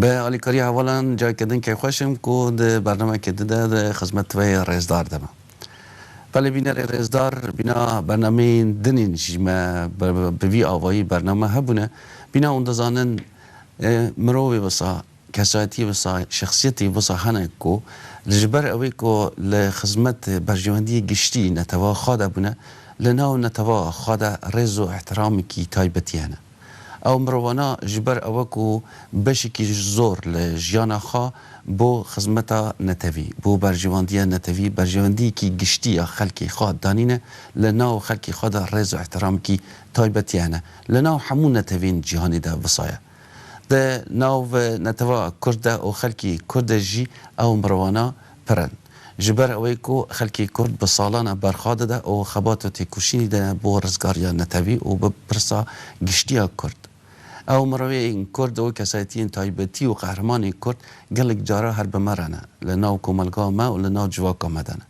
بە ئالی کاری هەوەڵان جای کردن کەی خوەشم کو د بەرنامە کە ددە د خزمەت توەی ڕێزدار دەمە. بەلی بینەرێ ڕێزدار بینا بەرنامەین دنین ژیمە بە وی ئاوایی بەرنامە هەبونە بینا ئون دەزانن مرۆڤێ وەسا کەسایەتی وەسا شەخسیەتی وەسا هەنە کو لەژبەر ئەوەی کو لە خزمەت بەرژەوەندی گشتی نەتەوە خا دە بونە لە ناو نەتەوە خا دە ڕێز و ئیحترامکی تایبەتی هەنە. ئەو مرۆڤانە ژی بەر ئەوە کو بەشیکی زۆر لە ژیانا خا بۆ خزمەتا نەتەوی، بۆ بەرژەوەندیە نەتەوی، بەرژەوەندیەکی گشتی یا خەلکی خا دانینە، لە ناو خەلکی خادا رێز و ئحترامکی تایبەتی هەنە، لە ناو هەموو نەتەوین جیهانیدا وسایا دە ناو نەتەوا کورددا و خەلکی کورددا ژی ئەو مرۆڤانە پرن. جی بەر ئەوەی کو خەلکی کورد بە سالانە بەرخا دەدا ئو خەبات و تێکوشینی دەیا بۆ رزگاریا نەتەوی ئو بە پرسا گشتیا کورد. ئەو مرۆیەین کورد ئو کەسایەتیەن تایبەتی و قەهرمانین کورد گەلک جارا هەر بە مەرەنە لە ناو کۆمەلگا مە ئو لە ناو جڤاکا مە دەنە.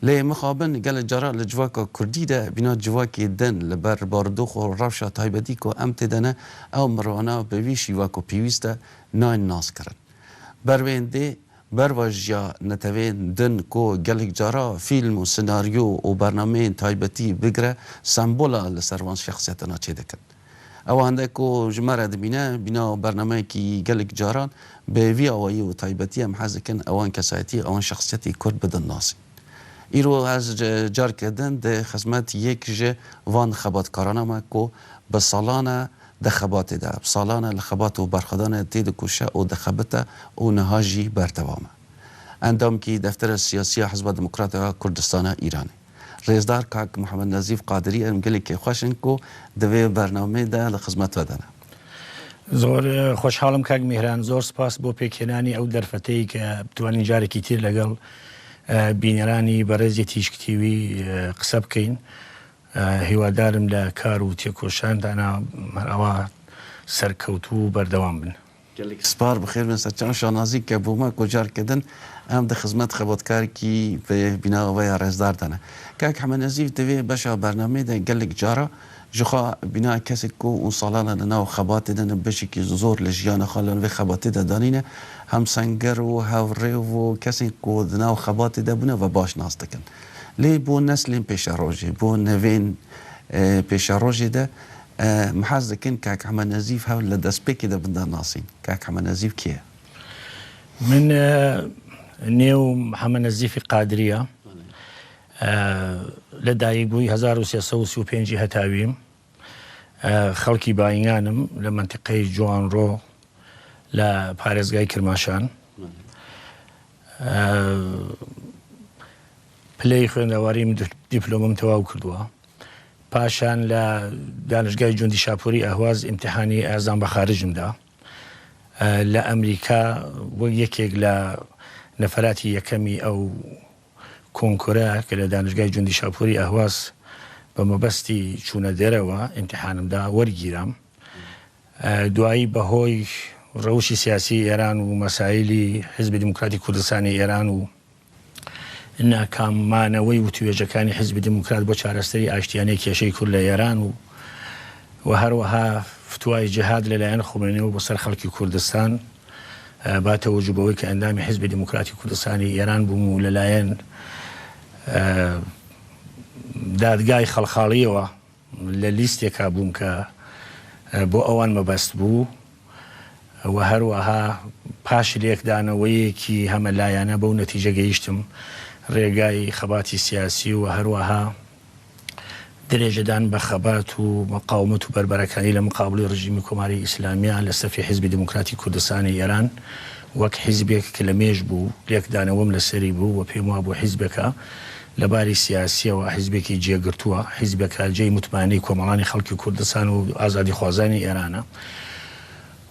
لێ مخابن گەلە جارا لە جڤاکا کوردی دە بینا جڤاکی دن لە بەر باردوخ و رەوشا تایبەتی کو ئەم تێدەنە ئەو مرۆانە بە وی شیوا کو پیویستە ناین ناس کرن بەر وێندێ بەڕەش یا نەتەوێن دن کۆ گەلک جارا فیلم و سناریۆ و بەرنامەێن تایبەتی بگرە سەمبۆلا لە سەر وان شەخسیەتەنا چێ دەکەن. ئەوەندە کۆ ژمە رە دبینە بینا و بەرنامەێکی گەلک جاران بە وی ئاوایی و تایبەتی ئەم حەز دکن ئەوان کەسایەتی ئەوان شەخسیەتی کورد بدن ناسی. ئیرۆ هەز جار کردن دە خزمەت یەک ژە وان خەباتکارانامە کۆ بە ساڵانە دە خەباتێ دا ساڵانە لە خەبات و بەرخودانێ تێ دکوشە ئوو دخەبتە ئوو نها ژی بەردەوامە. ئەندام کی دەفتەرە سیاسیە حزبە دموکراتە کوردستانە ئیرانێ. رێزدار کاک محمد نەزیف قادری ئەرم گەلێ کێ خوەشن کو دڤێ بەرنامەێ دا لە خزمەت وە دانە. زۆر خۆشحاڵم کاک میهران زۆر سپاس بۆ پێکهێنانی ئەو دەرفەتەی کە بتوانین جارێکی تر لەگەڵ بینەرانی بەڕێزی تیشک تیوی قسە بکەین هیوادارم لە کار و تێکۆشاندانا هەر ئەوا سەرکەوتوو و بەردەوام بن. گەلێک سپار بخێر بێن سەرچاو و شانازی کە بۆمە گۆجار کردن ئەم دە خزمەت خەباتکار کی پێ بیناوە وەیا ڕێزدار دانە. کاک حەمە نەزیف دەێ بەشا بەرنامەێ دە گەلێک جارا ژخا بینا کەسێک کو ئون ساڵانە لە ناو خەباتێ دە نە بەشێکی زۆر لە ژیانە خا لە نوێ خەباتێ دە دانینە هەمسەنگەر و هاوڕێ و کەسێک کو دە ناو خەباتێ دە بونە وە باش ناس دکەن. لێ بۆ نەسلێن پێشەڕۆژێ، بۆ نەڤێن پێشەڕۆژێ دە محاز دەکەن کاک حەمە نەزیف هەر لە دەسپێکێ دە بندا ناسین. کاک حەمە نەزیف کێیە؟ من نێو حەمە نەزیفی قادریە لە دایک بووی 1335 هەتاویم خەڵکی باینگانم لە منتیقەی جوانڕۆ لە پارێزگای کرماشان پلەی خوێندەواریم دیپلۆمم تەواو کردووە پاشان لە دانشگای جوندی شاپوری ئەهواز ئیمتحانی ئازان بە خارجمدا لە ئەمریکا بۆ یەکێک لە نەفراتی یەکەمی ئەو کۆنکۆرە کە لە دانشگای جوندی شاپوری ئەهواز بە مەبەستی چوونە دەرەوە ئیمتحانمدا وەرگیرام دوایی بەهۆی ڕەوشی سیاسیی ئێران و مەسایلی حیزبی دێموکراتی کوردستانی ئێران و ناکام مانەوەی وتووێژەکانی حیزبی دێموکرات بۆ چارەسەری ئاشتییانەی کێشەی کورد لە ئێران و و هەروەها فتوای جیهاد لە لایەن خومەینیەوە بۆ سەر خەڵکی کوردستان با تەوەجو بەوەی کە ئەندامی حیزبی دێموکراتی کوردستانی ئێران بووم و لە لایەن دادگای خەڵخاڵییەوە لە لیستێکا بووم کە بۆ ئەوان مەبەست بوو و هەروەها پاش لێکدانەوەیەکی هەمە لایەنە بەو نەتیجە گەیشتم رێگای خەباتی سیاسی و هەروەها درێژەدان بە خەبات و مقاومەت و بەربەرەکانی لە مقابڵی رژیمی کۆماری ئیسلامیە لە سەفی حیزبی دموکراتی کوردستانی ئێران وەک حیزبێک کە لە مێژ بوو لێکدانەوەم لە سەری بوو و پێم وابوو حیزبێکە لە باری سیاسییەوە حیزبێکی جێگرتووە، حیزبێکە جێی متمانەی کۆمەڵانی خەڵکی کوردستان و ئازادیخوازانی ئێرانە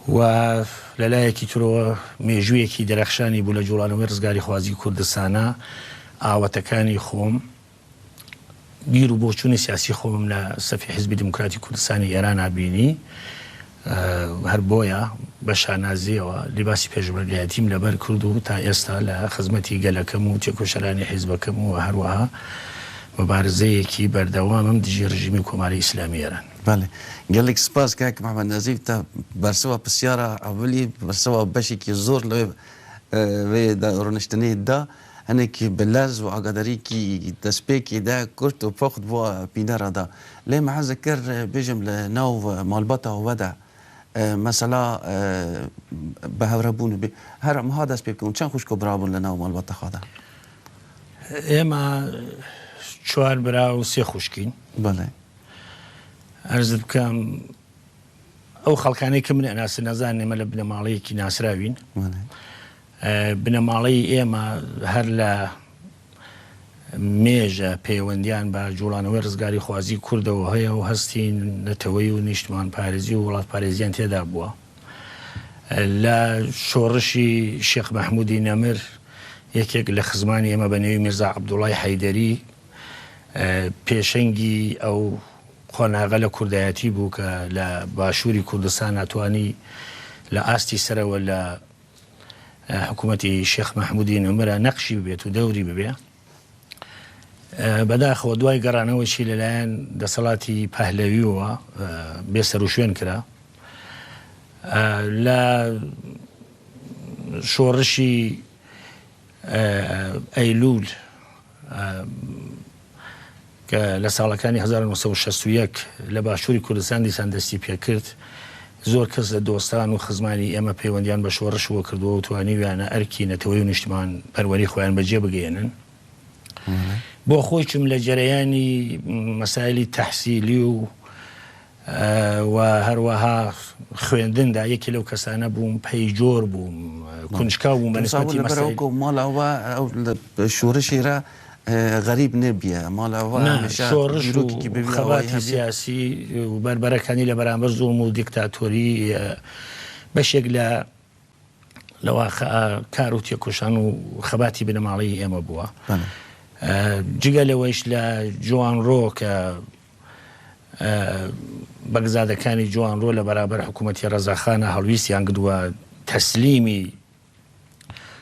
و لە لایەکی ترەوە مێژوویەکی دەرەخشانی بوو لە جووڵانەوەی ڕزگاریخوازی کوردستانا، ئاواتەکانی خۆم، بیر و بۆچوونی سیاسی خۆمم لە سەفی حیزبی دیموکراتی کوردستانی ئێرانا بینی. هەر بۆیە بە شانازییەوە لیباسی پێشمەرگایەتیم لەبەر کرد و تا ئێستا لە خزمەتی گەلەکەم و تێکۆشەرانی حیزبەکەم و هەروەها موبارزەیەکی بەردەوامم دژی رژیمی کۆماری ئیسلامی ئێران. بەڵێ گەلێک سپاس کاک محمد نەزیف تا بەرسوا پسیارا ئەوەلی بەرسوا بەشێکی زۆر لەوێ وێ دا ڕۆنشتنێ دا. هەنێکی بە لەرز و ئاگاداریی دەسپێکی دا کورت و پوخت بۆ پینە ڕادا. لێ مەحەزە کرد بێژم لە ناو مالباتا وەدا مەسەلا بە هەورە بوون بێ. هەر مها دەس پێ بکەون چەن خوشک و برا بوون لە ناو مالباتا خادا. ئێمە چوار برا و سێ خوشکین. بەڵێ. عەرزت بکەم ئەو خەڵکانەی کە من ئەناسن ئەزانن ئێمە لە بنەماڵەیەکی ناسراوین. بەڵێ. بنەماڵەی ئێمە هەر لە مێژە پەیوەندییان بە جووڵانەوەی ڕزگاریخوازیی کوردەوە هەیە و هەستی نەتەوەیی و نیشتمانپارێزی و وڵاتپارێزییان تێدا بووە. لە شۆڕشی شێخ مەحموودی نەمر یەکێک لە خزمانی ئێمە بە نێوی میرزا عەبدوڵڵای حەیدەری پێشەنگی ئەو قۆناغە لە کوردایەتی بوو کە لە باشووری کوردستان ناتوانی لە ئاستی سەرەوە لە حکومەتی شێخ مەحمودی نەمرە نەقشی ببێت و دەوری ببێ بەداخەوە دوای گەڕانەوەشی لەلایەن دەسەڵاتی پەهلەویەوە بێ سەروشوێن کرا لە شۆڕشی ئەیلوول کە لە ساڵەکانی هەزار و نۆ سەد و شەست و یەک لە باشووری کوردستان دیسان دەستی پێ کرد، زۆر کەس لە دۆستان و خزمانی ئێمە پەیوەندییان بە شۆڕشەوە کردووە و توانیویانە ئەرکی نەتەوەی و نیشتمانپەروەری خۆیان بە جێ بگەیەنن. بۆ خۆیشم لە جەرەیانی مەسایلی تەحسیلی و و هەروەها خوێندندا یەکی لەو کەسانە بووم پەی جۆر بووم کونجکاو بووم بە نسبەتی مەسەلەی. لەبەر ئەوکە ماڵاوا شۆرشی را غەریب نەبیە ماڵاوا هەمیشە بیرۆکێکی بێ وێنە هەبیە. خەباتی سیاسی و بەربەرەکانی لە بەرامبەر زوڵم و دیکتاتۆری بەشێک لە لە واقعە کار و تێکۆشان و خەباتی بنەماڵەی ئێمە بووە جگە لەوەیش لە جوانڕۆ کە بەگزادەکانی جوانڕۆ لە بەرابەر حکوومەتی ڕەزاخانە هەڵویستیان گدووە تەسلیمی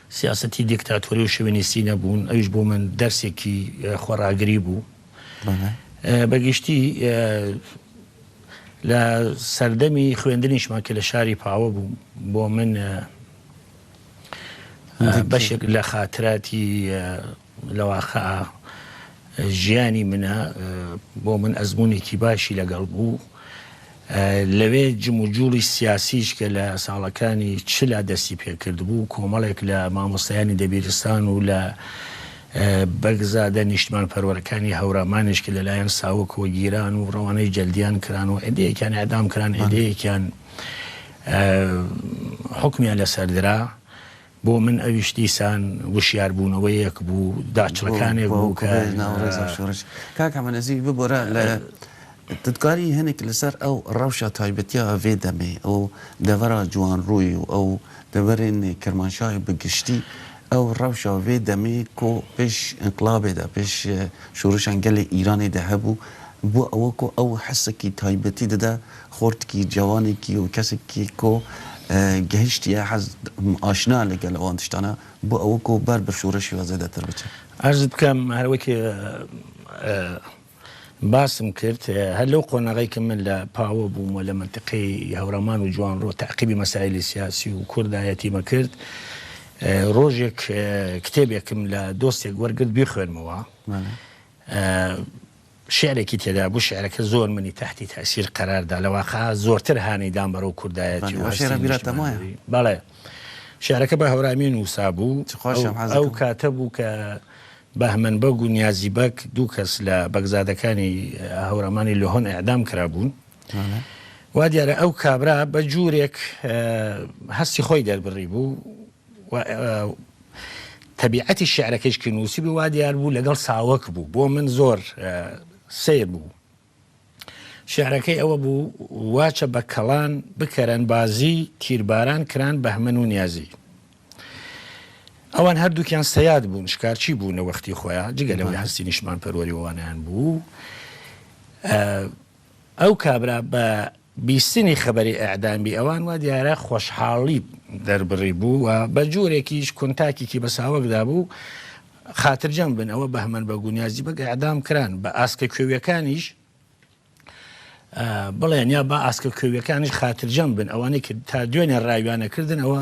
سیاستی دیکتاتۆری و شوێنیسی نەبوون ئەوش بۆ من دەرسێکی خۆراگری بوو بەگشتی لە سەردەمی خوێندنیشمان کە لە شاری پاوە بوو بۆ من بەشێک لە خااتراتی لەواقع ژیانی منە بۆ من ئەزمونێکی باشی لەگەڵ بوو لەوێ جم و جوڵی سیاسیش کە لە ساڵەکانی چلا دەستی پێکرد بوو کۆمەڵێک لە مامۆستایانی دەبیرستان و لە بەگزادە نیشتمان پەروەرەکانی هەورامانش کە لەلایەن ساوکەوە گیران و ڕەوانەی جەلدیان کران و ئەدەیەکیان ئەدام کران ئەدەیەکیان حکمیان لەسەردرا بۆ من ئەویش دیسان وشیاربوونەوەیەک بوو، داچڵەکانێک بوو کە. بۆ ناو ڕێزو شۆڕش. کاک حەمە نەزیری ببورە لە ددگاری هەنێک لەسەر ئەو ڕەوشە تایبەتیە ئەڤێ دەمێ ئەو دەڤەرا جوانڕووی و ئەو دەڤەرێن کرمانشای بە گشتی ئەو ڕەوشە ئەڤێ دەمێ کۆ پێش ئینقڵابێ دا پێش شۆڕشان گەلێ ئیرانێ دە هەبوو بۆ ئەوە کۆ ئەو حەسەکی تایبەتی دەدا خۆرتکی جەوانێکی و کەسێکی کۆ گەهشتیە حەز ئاشنا لەگەل ئەوان تشتانە بۆ ئەوە کۆ بەر بە شورەشی وە زێدە تر بچێ. عەرزت بکەم هەر وەکی باسم کرد هەر لەو قۆناغەی کە من لە پاوە بووم و لە مەنتقەی هەورەمان و جوانڕۆ تەعقیبی مەسایلی سیاسی و کوردایەتیم ئەکرد ڕۆژێک کتێبێکم لە دۆستێک وەرگرت بیخوێنمەوە شیعرێکی تێدا بوو شیعرەکە زۆر منی تەحتی تەئسیر قەرار دا لە واقع زۆرتر هانی دام بەرەو کوردایەتی و هەستی نیشتمانی بەڵێ شیعرەکە بە هەورامی نووسا بوو ئەو کاتە بوو کە بەهمەن بەگ و نیازی بەگ دوو کەس لە بەگزادەکانی هەورامانی لۆهۆن ئەعدام کرا بوون وا دیارە ئەو کابرا بە جوورێک هەستی خۆی دەربڕی بوو و تەبیعەتی شیعرەکەیش کە نووسیبوو وا دیار بوو لەگەڵ ساوەک بوو بۆ من زۆر سیر بوو شعرەکەی ئەوە بوو واچە بە کەڵان بکەرەن بازی تیرباران کران بەهمەن و نیازی ئەوان هەردووکیان سەیاد بوون شکارچی بوو نەوەختی خۆیان جگە لەوەی هەستی نیشمان پەروەریوانیان بوو ئەو کابرا بە بیستنی خەبەری ئێعدامی ئەوان وا دیارە خۆشحاڵی دەربڕی بوو و بە جۆرێکیش کونتاکێکی بە ساوەکدا بوو، خاترجەم بن ئەوە بەهمەن بە گونیازی بەگ ئێعدام کران، بە ئاسکە کوێویەکانیش بڵێن یا با ئاسکە کوێویەکانیش خاترجەم بن، ئەوانەی کە تا دوێنێ ڕاویانەکردن ئەوە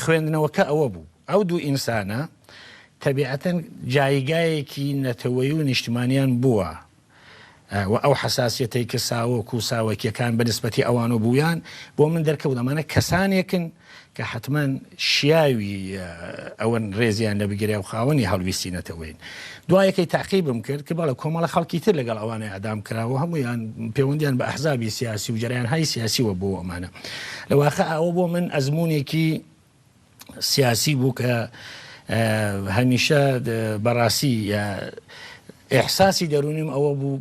خوێندنەوەکە ئەوە بوو، ئەو دوو ئینسانە تەبیعەتەن جایگایەکی نەتەوەیی و نیشتمانیان بووە و ئەو حەساسیەتەی کە ساوەک و ساوەکیەکان بە نسبەتی ئەوانۆ بوویان بۆ من دەرکەوت ئەمانە کەسانێکن کە حەتمەن شیاوی ئەوەن ڕێزیان لە بگیرێ و خاوەنی هەڵویستی نەتەوەین دوایەکەی تاقیبم کرد کە بەڵێ کۆمەڵە خەڵکی تر لەگەڵ ئەوانەی ئەعدام کراوە هەموویان پێوەندیان بە ئەحزابی سیاسی و جەرەیانهای سیاسیوە بۆ ئەمانە لە واقع ئەوە بۆ من ئەزمونێکی سیاسی بوو کە هەمیشە بەڕاستی ئێحساسی دەرونیم ئەوە بوو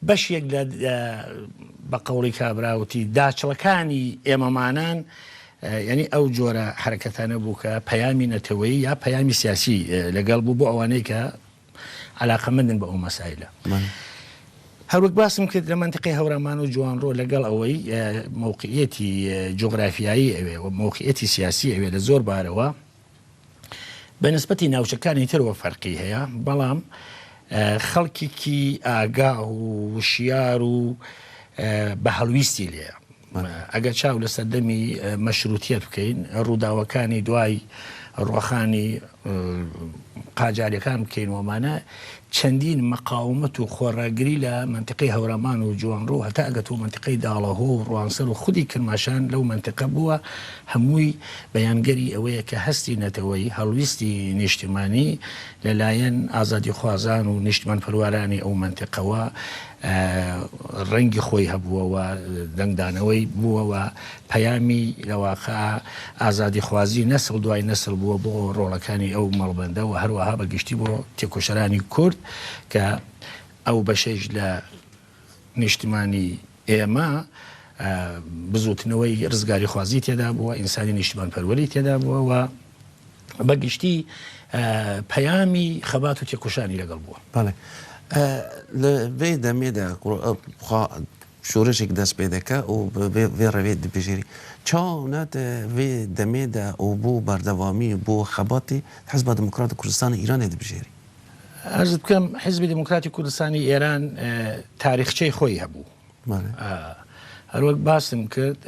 بەشێک لە بە قەوڵی کابرا وتی داچڵەکانی ئێمەمانان یانی ئەو جۆرە حرەکەتانە بوو کە پەیامی نەتەوەی یا پەیامی سیاسی لەگەڵ بوو بۆ ئەوانەی کە علاقەمەندن بە ئەو مەسایلە. هەروەک باسم کرد لە منتیقی هەورامان و جوانڕۆ لەگەڵ ئەوەی مۆقعەتی جۆگرافیایی ئەوێ و مۆقعەتی سیاسی ئەوێ لە زۆر بارەوە بە نسبەتی ناوچەکانی ترەوە فەرقی هەیە بەڵام خەڵکیکی ئاگا و وشیار و بە هەڵویستی لێە ئەگەر چاو لە سەردەمی مەشروتیت بکەین ڕووداوەکانی دوای ڕۆخانی قاجارەکان بکەین ومانە چەندین مقاومەت و خۆڕاگری لە مەنتیقەی هەورامان و جوانڕۆ هەتا ئەگەتوو مەنتیقەی داڵەهۆ و ڕوانسەر و خودی کرماشان لەو مەنتیقە بووە، هەمووی بەیانگەری ئەوەیە کە هەستی نەتەوەیی، هەڵویستی نیشتیمانی لە لایەن ئازادیخوازان و نیشتمانپەروارانی ئەو مەنتیقەوە ڕەنگی خۆی هەبووە و دەنگدانەوەی بووە و پەیامی لە واقع ئازادیخوازی نەسڵ دوای نەسڵ بووە بۆ ڕۆڵەکانی ئەو مەڵبەندە و هەروەها بە گشتی بۆ تێکۆشەرانی کورد کە ئەو بەشەیش لە نیشتمانی ئێمە بزوتنەوەی ڕزگاریخوازی تێدا بووە ئینسانی نیشتمان پەروەری تێدا بووە و بە گشتی پەیامی خەبات و تێکۆشانی لەگەڵ بووە بەڵێ لە بێ دەمێدا شورشێک دەست پێ دەکا و ڤێ ڕەێ دبژێری چاو نات ڤێ دەمێ دا و بۆ بەردەوامی و بۆ خەباتی حزبا دموکرات کوردستانی ئیرانێ دبژێری. عەرزت بکەم حزبی دموکراتی کوردستانی ئێران تاریخچەی خۆی هەبوو. هەروەک باسم کرد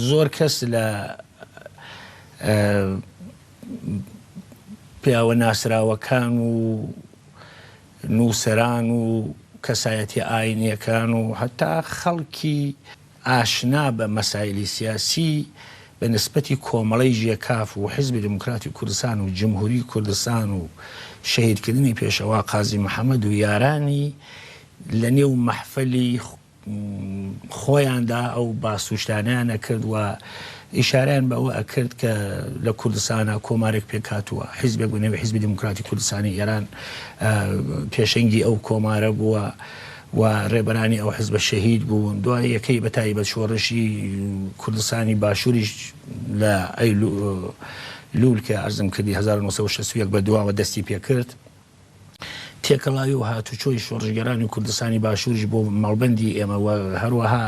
زۆر کەس لە پیاوە ناسراوەکان و نووسەران و کەسایەتیە ئاینیەکان و هەتا خەڵکی ئاشنا بە مەسایلی سیاسی بە نسبەتی کۆمەڵەی ژێکاف و حیزبی دموکراتی کوردستان و جمهوری کوردستان و شەهیدکردنی پێشەوا قازی محەمەد و یارانی لە نێو مەحفەلی خۆیاندا ئەو باس و شتانەیان ئەکرد و ئیشارەیان بە ئەوە ئەکرد کە لە کوردستانە کۆمارێک پێکاتووە حیزبێک بە نێوی حیزبی دیموکراتی کوردستانی ئێران پێشەنگی ئەو کۆمارە بووە و ڕێبەرانی ئەو حزبە شەهید بوون دوای یەکەی بە تایبەت شۆڕشی کوردستانی باشووریش لە ئەی لول کە ئەرزم کردی 1960 بە دواوە دەستی پێکرد تێکەڵاوی و هاتوچۆی شۆڕشگێرانی کوردستانی باشووریش بۆ مەڵبەندی ئێمە و هەروەها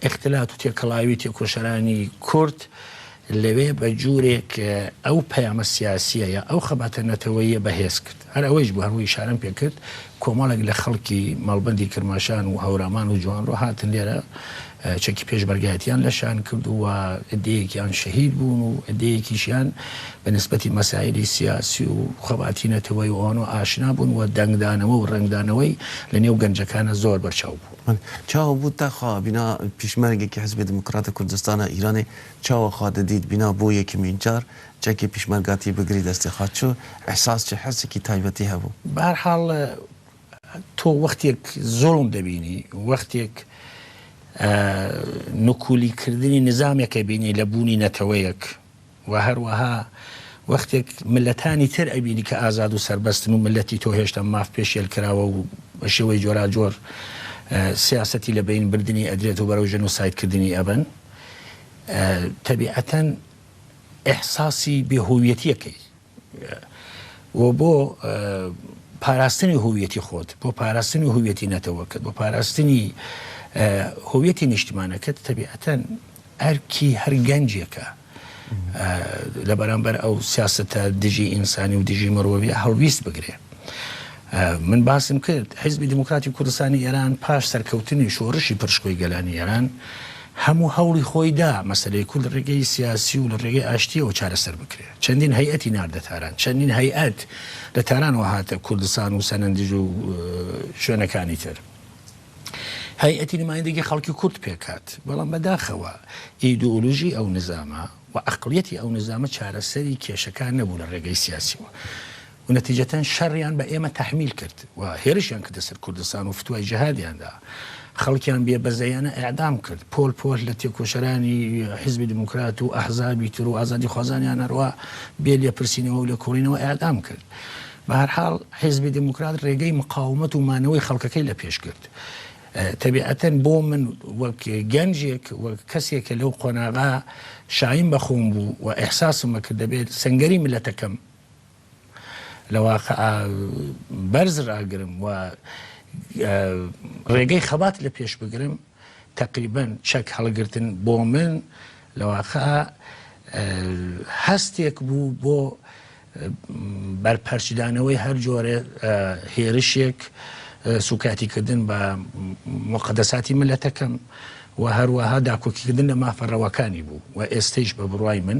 ئختلات و تێکەڵاوی تێکۆشەرانی کورد لەوێ بە جوورێک ئەو پەیامە سیاسیە یا ئەو خەباتە نەتەوەیە بەهێز کرد هەر ئەوەیش بوو هەمووی شارم پێ کرد کۆمەڵێک لە خەڵکی مەڵبندی کرماشان و هەورامان و جوانڕۆ هاتن لێرە چەکی پێشمەرگایەتییان لەشان کرد و عددەیەکیان شەهید بوون و عددەیەکیشیان بە نسبەتی مەسایلی سیاسی و خەباتی نەتەوەی و ئەوانەوە ئاشنا بوون و دەنگدانەوە و رەنگدانەوەی لە نێو گەنجەکانا زۆر بەرچاو بوو. چاوە بوو تا خوا بینا پیشمەرگێکی حیزبی دیموکراتی کوردستانا ئیرانێ چاوە خوا دەدیت بینا بۆ یەکمین جار چەکی پیشمەرگاتی بگری دەستی خوا چ ئیحساس چ حەسێکی تایبەتی هەبوو؟ بە هەر حاڵ تۆ وەختێک زۆڵم دەبینی وەختێک نکولی کردنی نزامێکە بینی لە بوونی نەتەوەیەک و هەروەها وەختێک ملەتانی تر ئەبینی کە ئازاد و سربەستن و ملەتی تۆ هێشتا ماف پێشێل کراوە و بە شێوەی جۆراجۆر سیاستی لە بین بردننی ئەدرێت و بەرەو ژن و سایتکردنی ئەبن تەبیعەتەن ئەحساسی بێهویەتیەکەی و بۆ پاراستنی هویەتی خۆت بۆ پاراستنی هویەتی نەتەوەکەت بۆ پاراستنی هویەتی نیشتمانەکەت تەبیعەتەن ئەرکی هەر گەنجێکە لە بەرامبەر ئەو سیاستە دژی ئینسانی و دژی مرۆڤ هەڵویست بگرێ من باسم کرد حیزبی دیموکراتی کوردستانی ئێران پاش سەرکەوتنی شۆڕشی پڕشکۆی گەلانی ئێران هەموو هەوڵی خۆی دا مەسەلەی کورد لە ڕێگەی سیاسی و لە ڕێگەی ئاشتییەوە چارەسەر بکرێ. چەندین هەیئەتی ناردە تاران. چەندین هەیئەت لە تارانەوە هاتە کوردستان و سەنەندج و شوێنەکانی تر. هەیئەتی نمایندەگی خەڵکی کورد پێک هات. بەڵام بەداخەوە ئیدئۆلۆژی ئەو نیزامە و ئەقڵیەتی ئەو نیزامە چارەسەری کێشەکان نەبوو لە ڕێگەی سیاسییەوە. و نەتیجەتەن شەڕیان بە ئێمە تەحمیل کرد و هێرشیان کردە سەر کوردستان و فتوای جهادیان دا. خەڵکیان بێ بەزەیانە ئێعدام کرد. پۆل پۆل لە تێکۆشەرانی حیزبی دیموکرات و ئەحزابی تر و ئازادیخوازانیان هەروا بێ لێپرسینەوە و لێکۆڵینەوە ئێعدام کرد. بە هەر حاڵ حیزبی دیموکرات رێگەی مقاومەت و مانەوەی خەڵکەکەی لە پێش گرت. تەبیعەتەن بۆ من وەک گەنجێک و کەسێک کە لەو قۆناغە شایین بە خۆم بوو و ئیحساسم ئەکرد دەبێت سەنگەری میللەتەکەم لە واقع بەرز راگرم و رێگەی خەبات لە پێش بگرم تقریبا چەک هەڵگرتن بۆ من لە واقع هەستێک بوو بۆ بەرپەرچدانەوەی هەر جۆرە هێرشێک سوکاتیکردن بە مقدەساتی ملەتەکەم و هەروەها داکۆکیکردن لە مافەڕەوەکانی بوو و ئێستش بە بڕای من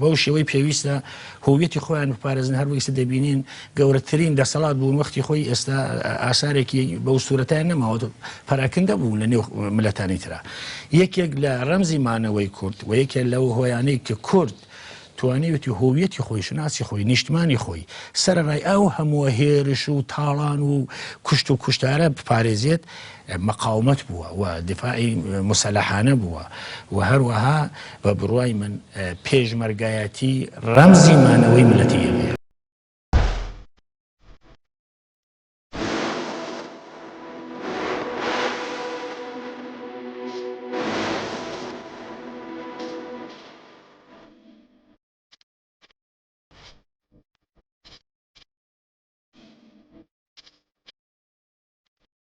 بەو شێوەی پێویستە هوویەتی خۆیان بپارێزن، هەر وەک ئیستا دەبینین گەورەترین دەسەڵات بوون، وەختی خۆی ئێستا ئاسارێکی بەو سورەتەیان نەماوە، پەراکندە بوون لە نێو میللەتانی ترا. یەکێک لە رەمزی مانەوەی کورد و یەکێک لەو هۆیانەی کە کورد توانیوێتی هوویەتی خۆی، شوناسی خۆی، نیشتمانی خۆی سەرەڕای ئەو هەمووە هێرش و تاڵان و کوشت و کوشتارە بپارێزێت، مقاومەت بووە و دیفاعی موسەلەحانە بووە و هەروەها بە بڕوای من پێشمەرگایەتی ڕەمزی مانەوەی میللەتی ئێمەیە.